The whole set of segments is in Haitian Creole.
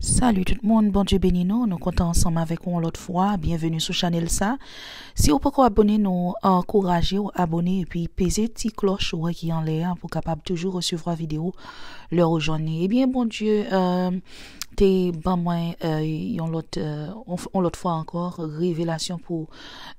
Salut tout moun Bondye beni nou nou kontan ansanm avèk ou yon lòt fwa byenveni sou chanèl sa si ou poko abone nou ankourajew abone epi peze ti klòch ou wè ki anlè a pou kapab toujou resevwa video lè ou jwenn li ebyen Bondye te ban mwen yon lòt yon lòt fwa ankò revelasyon pou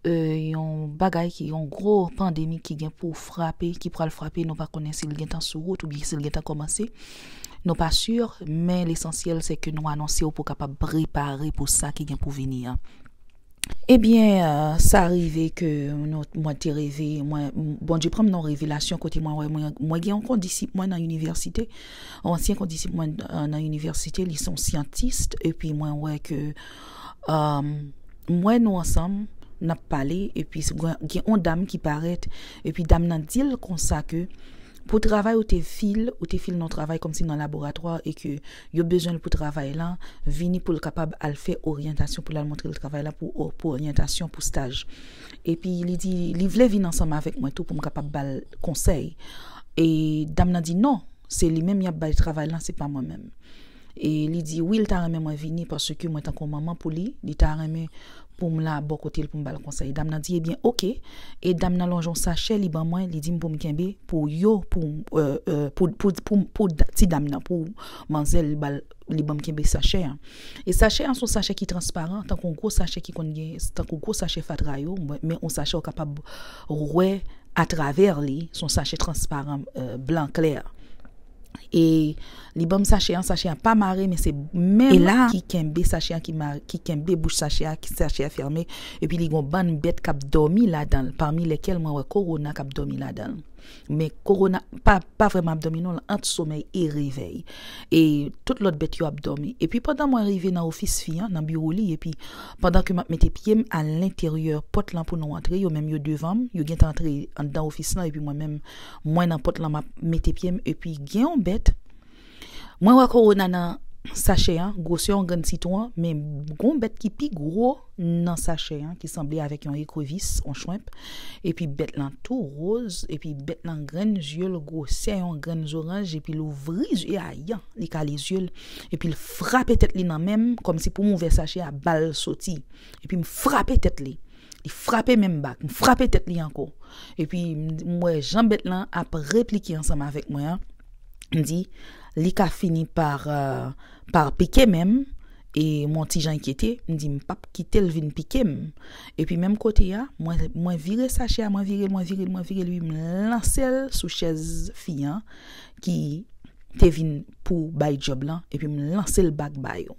yon bagay ki yon gwo pandemi ki gen pou frape ki pral frape nou pa konnen sil gentan sou wout oubyen sil gentan kòmanse. Nou pa sur, men lesansyèl se ke nou anonse w pou w kapab prepare pou sa ki gen pou vini an. Ebyen, sa rive ke mwen te reve, Bondye pran m nan yon revelasyon kote mwen wè mwen gen yon kondisip mwen nan inivèsite, yon ansyen kondisip mwen nan inivèsite, li se yon syantis, epi mwen wè ke, m wè nou ansanm, n ap pale, epi gen yon dam ki parèt, epi dam nan di l konsa ke, Pou travay ou te fil, ou te fil nan yon travay kòmsi nan laboratwa e ke yo bezwen l pou travay lan, vini pou l kapab al fè oryantasyon, pou l al montre l travay lan pou oryantasyon pou staj. Epi li di, li vle vin ansanm avèk mwen tou pou m kapab ba l konsèy. E dam nan di non, se li menm y ap bay travay lan, se pa mwen menm. e li di wi li ta renmen mwen vini paske mwen tankou yon manman pou li, li ta renmen pou m la bò kote l pou m ba l konsèy. Dam nan di ebyen ok e dam nan lonje yon sachè li ban mwen li di m pou m kenbe pou yo pou pou ti dam nan pou manzè li ba l li ban m kenbe sachè an. E sachè an se yon sachè ki transparan tankou yon gwo sachè ki konn gen tankou gwo sachè fatra yo men yon sachè ou kapab wè atravè li se yon sachè transparan blan klè. E li banm sache an, sache an pa mare men se menm e la ki kenbe sache an ki kenbe bouch sache a, sache a fèmen epi li gon bann bèt kap dòmi ladan l pami lèkèl mwen wè Korona kap dòmi ladan l men Korona pa vrèman ap dòmi non l ant somèy e revèy e tout lòt bèt yo ap dòmi epi pandan mwen rive nan ofis fi an nan biwo li epi pandan ke map mete pye m alenteryè pòt lan pou nou antre yo menm yo devan m yo gentan antre anndan ofis lan epi mwen menm Mwen nan pot lan map mete pyem epi gen yon bèt Mwen wè korona nan sachè an gwosè yon grenn sitwon men gon bèt ki pi gwo nan sachè an ki sanble avèk yon ekrevis on chwenp epi bèt lan tou roz epi bèt lan grenn zyel gwosè yon grenn zoranj epi l ouvri zye a yan li kale zyel epi l frape tèt li nan menm kòmsi poum ouvè sachè a bal soti epi m frape tèt li. Li frape menm bak. M frape tèt li ankò. Epi m wè jan bèt lan ap replike ansanm avèk mwen an. M di, li ka fini pa pike menm. E m yon ti jan enkyete. M di, m pap kite l vin pike m. Epi menm kote a, mwen vire sachè a, mwen vire l, mwen vire l, mwen vire l, wi. M lanse l sou chèz fi an ki te vin pou bay djòb lan. Epi m lanse l bak ba yo.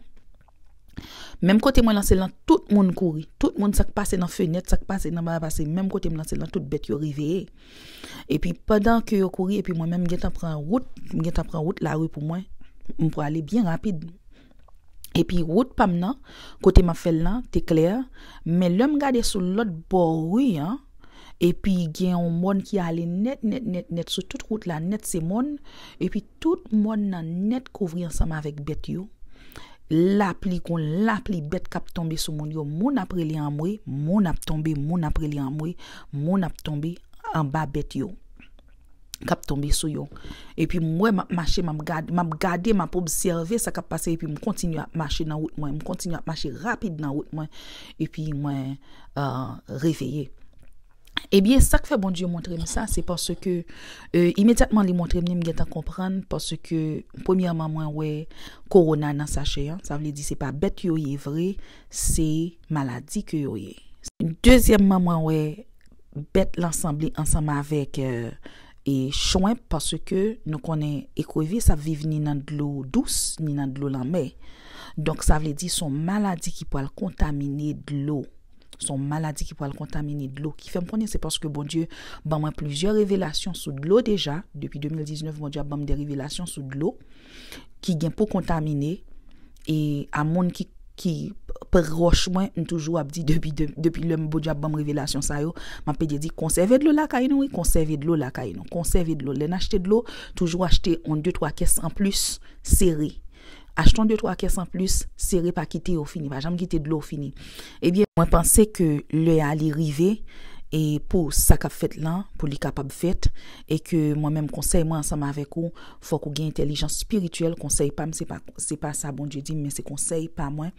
Menm kote mwen lanse l lan tout moun kouri. Tout moun sa k pase nan fenèt, sa k pase nan ba a pase menm kote m lanse l lan tout bèt yo reveye. Epi pandan ke yo kouri epi mwen menm m gentan pran wout, m gentan pran wout lari pou mwen, m prale byen rapid. Epi wout pa m nan, kote m ap fè l lan te klè, men lè m gade sou lòt bò ri an, epi gen yon mòn ki ale nèt nèt nèt nèt sou tout wout la nèt se mòn, epi. Tout mòn nan nèt kouvri ansanm avèk bèt yo, lapli kon lapli bèt k ap tonbe sou moun yo, moun ap rele anmwe, moun ap tonbe, moun ap rele anmwe, moun ap tonbe anba bèt yo k ap tonbe sou yo. Epi m wè, m ap mache, m ap gade, m ap gade, m ap obsève sa k ap pase epi m kontinye ap mache nan wout mwen, m kontinye ap mache rapid nan wout mwen epi mwen reveye. Ebyen, sa k fè Bondye montre m sa, se paske imedyatman li montre m li, m gentan konprann paske premyèman mwen wè kowona nan sachè an, sa vle di se pa bèt yo ye vre, se maladi ke yo ye. Dezyèmman mwen wè bèt lan sanble ansanm avèk chwenp paske nou konnen ekrevis ap viv ni nan dlo dous ni nan dlo lanmè. Donk sa vle di son maladi ki pral kontamine dlo Son maladi ki pwal kontamine dlo ki fèm konnen se paske Bondye ban mwen plizyè revelasyon sou dlo deja depi 2019 Bondye ap banm de revelasyon sou dlo ki gen pou kontamine e a moun ki ki proch mwen m toujou ap di depi depi lèm Bondye ap banm revelasyon sa yo map pede di konsève dlo lakay nou wi konsève dlo lakay nou konsève dlo lèn achte dlo toujou achte on de twa kès anplis sere Achte yon de twa kès an plis, sere pa kite yo fini, pa janm kite dlo fini. Ebyen, mwen panse ke lè a li rive e pou sa kap fèt lan, pou li kapab fèt e ke mwen menm konsèy mwen ansanm avèk ou, fòk ou gen entèlijans espirityèl, konsèy pam se pa se pa sa Bondye dim men se konsèy pa mwen,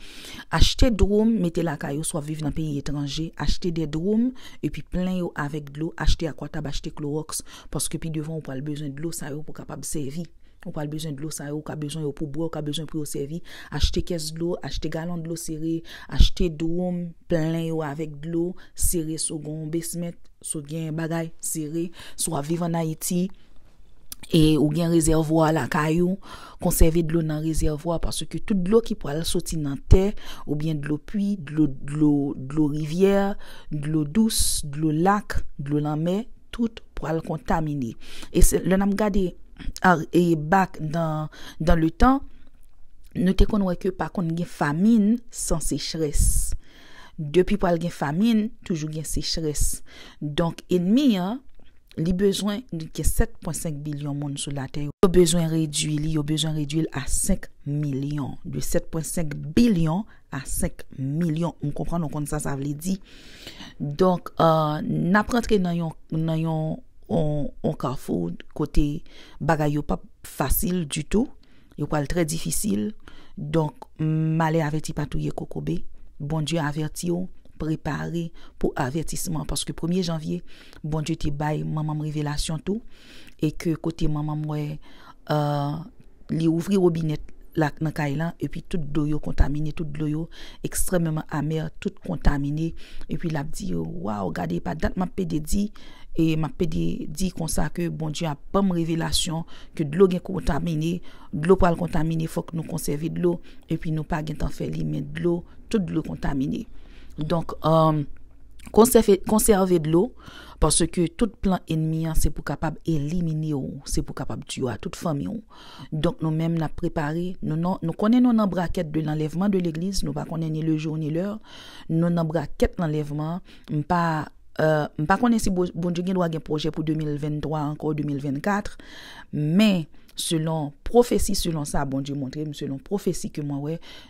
achte dwoum mete lakay ou si wap viv nan peyi etranje, achte de dwoum epi plen yo avèk dlo, achte akwatab, achte klowòks paske pi devan ou pral bezwen dlo sa yo pou kapab sèvi. Ou pral bezwen dlo sa yo, ou ka bezwen yo pou bwè, ou ka bezwen pou yo sèvi. Achte kès dlo, achte galon dlo sere, achte dwom, plen yo avèk dlo, sere si w gen yon besment, si w gen bagay, sere. Si w ap viv an Ayiti e ou gen rezèvwa lakay ou, konsève dlo nan rezèvwa paske tout dlo ki pral soti nan tè oubyen dlo pui, dlo rivyè, dlo dous, dlo lak, dlo lanmè. tout pral kontamine e se lè nap gade e bak dan le tan nou te konn wè ke pa konn gen famin san sechrès depi pral gen famin toujou gen sechrès donk enmi an li bezwen li gen 7.5 bilyon moun sou latè yo bezwen redwi li yo bezwen redwil a 5 milyon de 7.5 bilyon a 5 milyon m konprann ou konn sa sa vle di donk n ap rantre nan yon nan yon yon kafou kote bagay yo p ap fasil ditou yo pral trè difisil donk male avèti pa touye kokobe Bondye avèti w prepare pou avètisman paske premye janvye Bondye te bay manman m revelasyon tou e ke kote manman m wè li ouvri robinè la nan kay lan, epi tout dlo yo kontamine, tout dlo yo ekstrèmeman amè, tout kontamine, epi l ap di yo, waw, gade, pa dat m ap pede di, e m ap pede di konsa ke Bondye ap ban m revelasyon ke dlo gen kontamine, dlo pral kontamine, fòk nou konsève dlo, epi nou pa gen tan fè li, men dlo, tout dlo kontamine. Donk, konsève dlo. Paske tout plan enmi an se pou kapab elimine ou, se pou kapab tiyo a tout fanmi ou. Donk nou menm nap prepare nou nan, nou konnen nou nan brakèt de lanlèvman de legliz, nou pa konnen ni le jour ni l'heure, nou nan brakèt lanlèvman an, m pa m pa konnen si Bondye gen dwa gen pwojè pou 2023 ankò ou 2024, men selon pwofesi selon sa Bondye montre m, selon pwofesi ke mwen wè,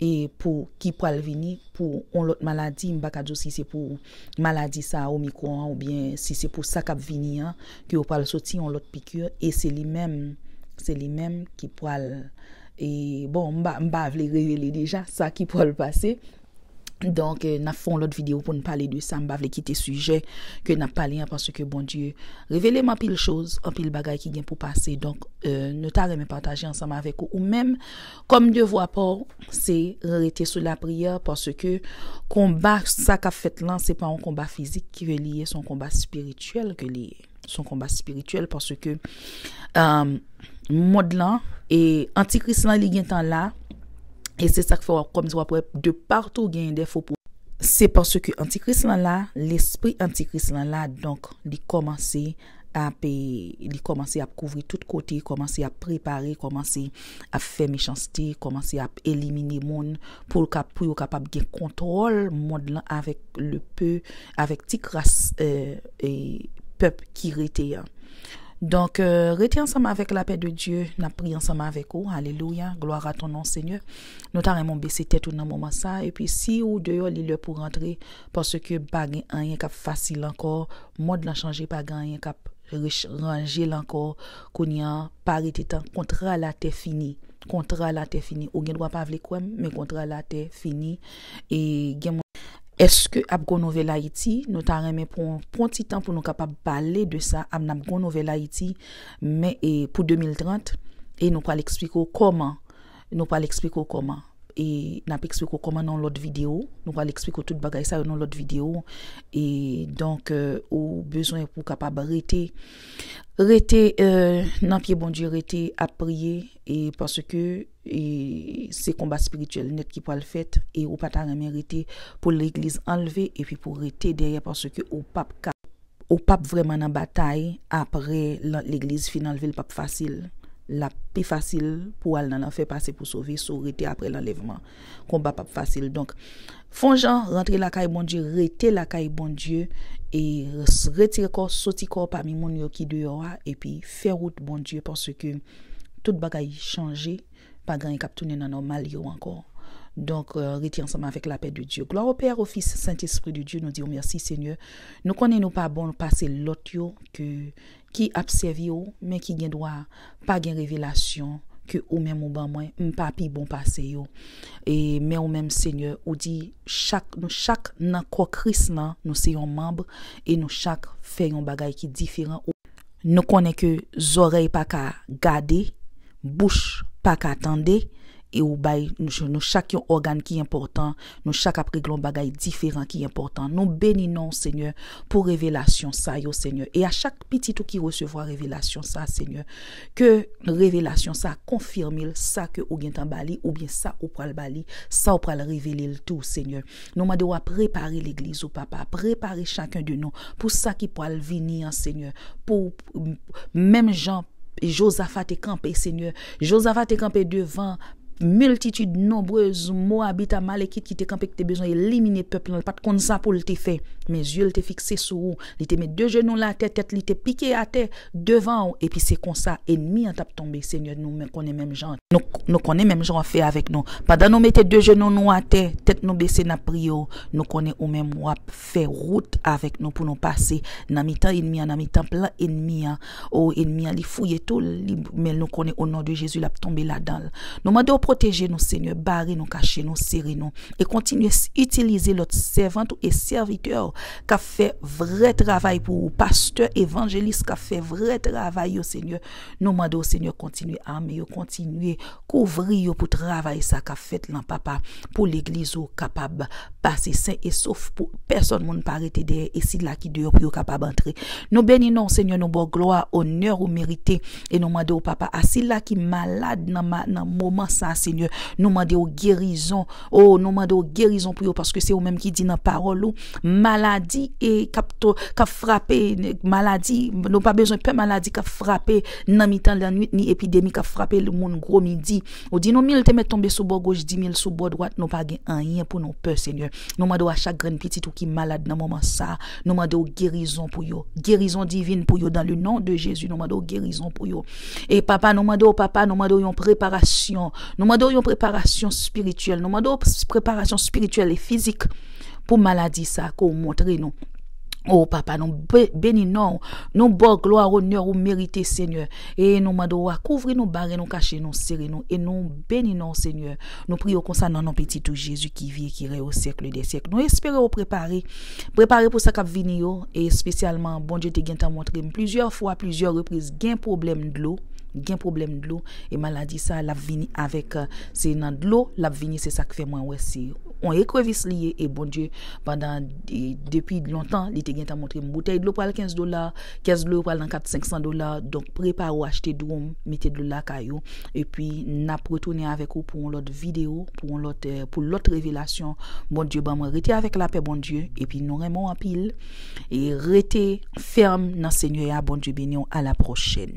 e pou ki pral vini pou on lòt maladi, m pa ka di w si se pou maladi sa a omicron an oubyen si se pou sa k ap vini an ke yo pral soti on lòt piqûre e se li menm se li menm ki pral e bon m pa m pa vle revele deja sa ki pral pase donk n ap fon lòt video pou n pale de sa m pa vle kite sijè ke n ap pale an paske Bondye revele m anpil choz anpil bagay ki gen pou pase donk nou ta renmen pataje ansanm avèk ou ou menm Kòm devwa pa w se rete sou lapriyè paske konba sa k ap fèt lan se pa yon konba fizik ke li ye se yon konba espirityèl ke li ye se yon konba espirityèl paske mond lan e antikris lan li gentan la e se sa k fè w ap kòmanse w ap wè de patou genyen de fo pwofèt se paske antikris lan la lespri antikris lan la donk li kòmanse ap li kòmanse ap kouvri tout kote kòmanse ap prepare kòmanse ap fè mechanste kòmanse ap elimine moun poul ka pou yo kapab gen kontwòl mond lan avèk le pe avèk ti kras pèp ki rete an donk rete ansanm avèk lapè de Dye nap priye ansanm avèk ou alelouya glwa a ton non senyè nou ta renmen ou bese tèt ou nan moman sa epi si ou deyò li lè pou rantre Paske pa gen anyen kap fasil ankò mond lan chanje pa gen anyen kap rich ranjel ankò kounya pa rete tan kontra latè fini kontra latè fini ou gen dwa pa vle kwèm men kontra latè fini e gen Eske ap gon nouvèl ayiti nou ta renmen pran yon pon ti tan pou nou kapab pale de sa am nap gon nouvèl ayiti men e pou 2030 e nou pral eksplike w kòman. Nou pral eksplike w kòman. E n ap eksplike w kòman nan yon lòt videyo. Nou pral eksplike w tout bagay sa yo nan yon lòt videyo. E donk, ou bezwen pou w kapab rete, rete nan pye Bondye, rete ap priye. E paske se konba espirityèl nèt ki pral fèt. E ou pa ta renmen rete pou legliz anlve epi pou w rete dèyè paske ou pap ka. Ou pap vrèman nan batay apre lan legliz fin anlvel pap fasil lap pi fasil pou al nan lanfè pase pou sove so rete apre lanlèvman konba pap fasil donk fon jan rantre lakay Bondye rete lakay Bondye e retire kò soti kò pami moun yo ki deyò a epi fè wout Bondye paske tout bagay chanje pa gen anyen kap tounen nan nòmal yo ankò donk rete ansanm avèk lapè de Dye glwa o pè o fis sentespri de Dye nou diw mèsi senyè Nou konnen nou pa bon pase lòt yo ke ki ap sèvi ou men ki gen dwa pa gen revelasyon ke ou menm ou ban mwen m pa pi bon pase yo e men ou menm Senyè ou di chak nou chak nan kò Kris lan nou se yon manb e nou chak fè yon bagay ki diferan ou Nou konnen ke zòrèy pa ka gade, bouch pa ka tande, e ou bay nou chak yon ògàn ki enpòtan, nou chak ap regle yon bagay diferan ki enpòtan. Nou beni non w, Senyè, pou revelasyon sa yo, Senyè. E a chak pitit ou ki resevwa revelasyon sa, Senyè, ke revelasyon sa konfime l sa ke ou gentan ba li oubyen sa ou pral ba li, sa ou pral revele l tou, Senyè. Nou mande w a prepare legliz ou papa, prepare chacun de nou pou sa ki pwal vini an senyè, pou menm jan Jozafa te kanpe senyè, Jozafa te kanpe devan miltitid nonbrez Moabit, Amalekit ki te kanpe ki te bezwen elimine pèp lan, li pat konn sa pou l te fè, men zye l te fikse sou ou, li te met de jenou l atè, tèt li te pike atè. Devan ou epi se konsa enmi an tap tonbe Senyè nou men konnen menm jan nou konnen menm jan wap fè avèk nou pandan nou mete de jenou nou atè tèt nou bese nap priye w nou konnen ou menm wap fè wout avèk nou pou nou pase nan mitan enmi an nan mitan plan enmi an o enmi an li fouye tou li men nou konnen o non de Jezi lap tonbe ladanl nou mande w pwoteje nou Senyè bare nou kache nou sere nou e kontinye itilize lòt sèvant ou e sèvitè w kap fè vrè travay pou ou pastè evanjelis kap fè vrè travay yo senyè nou mande w senyè kontinye ame yo kontinye kouvri yo pou travay sa kap fèt lan papa pou legliz ou kapab pase sen e sof pou pèsòn moun pa rete dèyè e sila ki deyò pou yo kapab antre nou beni non w senyè nou baw glwa onè ou merite e nou mande w papa a sila ki malad nan moman sa senyè nou mande w gerizon. O nou mande w gerizon pou yo paske se ou menm ki di nan pawòl ou maladi e kap to kap frape maladi nou pa bezwen pè maladi kap frape nan mitan lannwit ni epidemi kap frape l moun gwo midi ou di nou mil te mèt tonbe sou bò goch dimil sou bò dwat nou pa gen anyen pou nou pè senyè nou mande w a chak grenn pitit ou ki malad nan moman sa Nou mande w gerizon pou yo. Gerizon divin pou yo dan le non de Jezi nou mande w gerizon pou yo. E papa nou mande w papa nou mande w yon preparasyon. Nou mande w yon preparasyon spirityèl. Nou mande w preparasyon spirityèl e fizik pou maladi sa ke w montre nou. O papa nou beni non w. Nou ba w glwa onè ou merite senyè. E nou mande w a kouvri nou bare nou kache nou sere nou e nou beni non w senyè. Nou priye w konsa nan non pitit ou Jezi ki vi e ki rèy o syèkle dè syèk. Nou espere w prepare. Prepare pou sa k ap vini yo. E espesyalman, Bondye te gentan montre m plizyè fwa, plizyè repriz, gen pwoblèm dlo, gen pwoblèm dlo. E maladi sa a, l ap vini avèk, se nan dlo l ap vini. Se sa k fè mwen wè se yon ekrevis li ye. E Bondye, pandan, depi lontan, li te gentan montre m boutèy dlo pral 15 dola, kès dlo yo pral nan 4, 500 dola. Donk, prepare w achte dwom, mete dlo lakay ou. Epi nap retounen avèk ou pou yon lòt video pou yon lòt pou lòt revelasyon Bondye ban mwen rete avèk lapè Bondye epi nou renmen w anpil e rete fèm nan Senyè a Bondye beniw a la pwochèn.